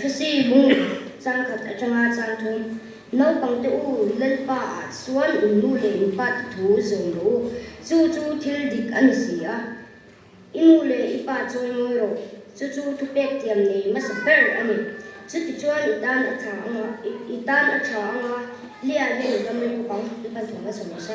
Fc hung chang khat atanga chang thum naupangte u Lalpa ah chuan in nu leh in pa te thu zawm ro u, chu chu thil dik a ni si a, i nu leh i pa chawi mawi rawh, chu chu thupek tiam nei hmasa ber a ni. Chuti chuan i tan a tha anga, i tan a tha anga Lia hian i dam ri bawk ang, i pan thawmna chho mahse.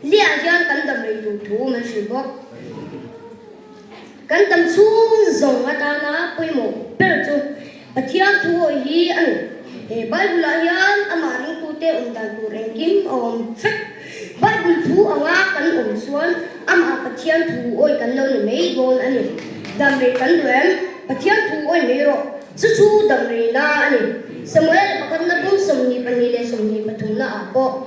Liah hian kan dam rei tur thu man hrilh bawk. Kan dam chhung zawng atana pawimawh ber chu Pathian thu hawi hi a ni. He Bible-ah hian amah ringtute awm dan tur engkim a awm fek. Bible thu anga kan awm chuan amah Pathian thu awi kan lo ni mai dawn a ni. Dam rei kan duh em? Pathian thu awi mai rawh. Chu chu dam reina a ni. Samuel pakhatna pum sawmhnih pahnih leh sawmhnih pathumnaah pawh.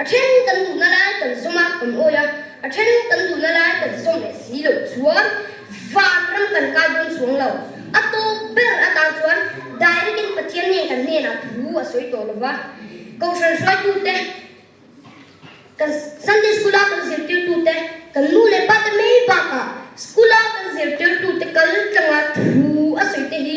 A then kan duhna lai kan zawm a, kan awih a, a then kan duhna lai kan zawm leh si loh chuan van ram kan kai dawn chuang lo. A tawp ber atang chuan direct-in Pathian nge kan hnenah thu a sawi tawh lo va, Kohhran hruaitute, kan Sunday School-a kan zirtirtute, kan nu leh pate mai bakah School-a kan zirtirtute kal tlanga thu a sawite hi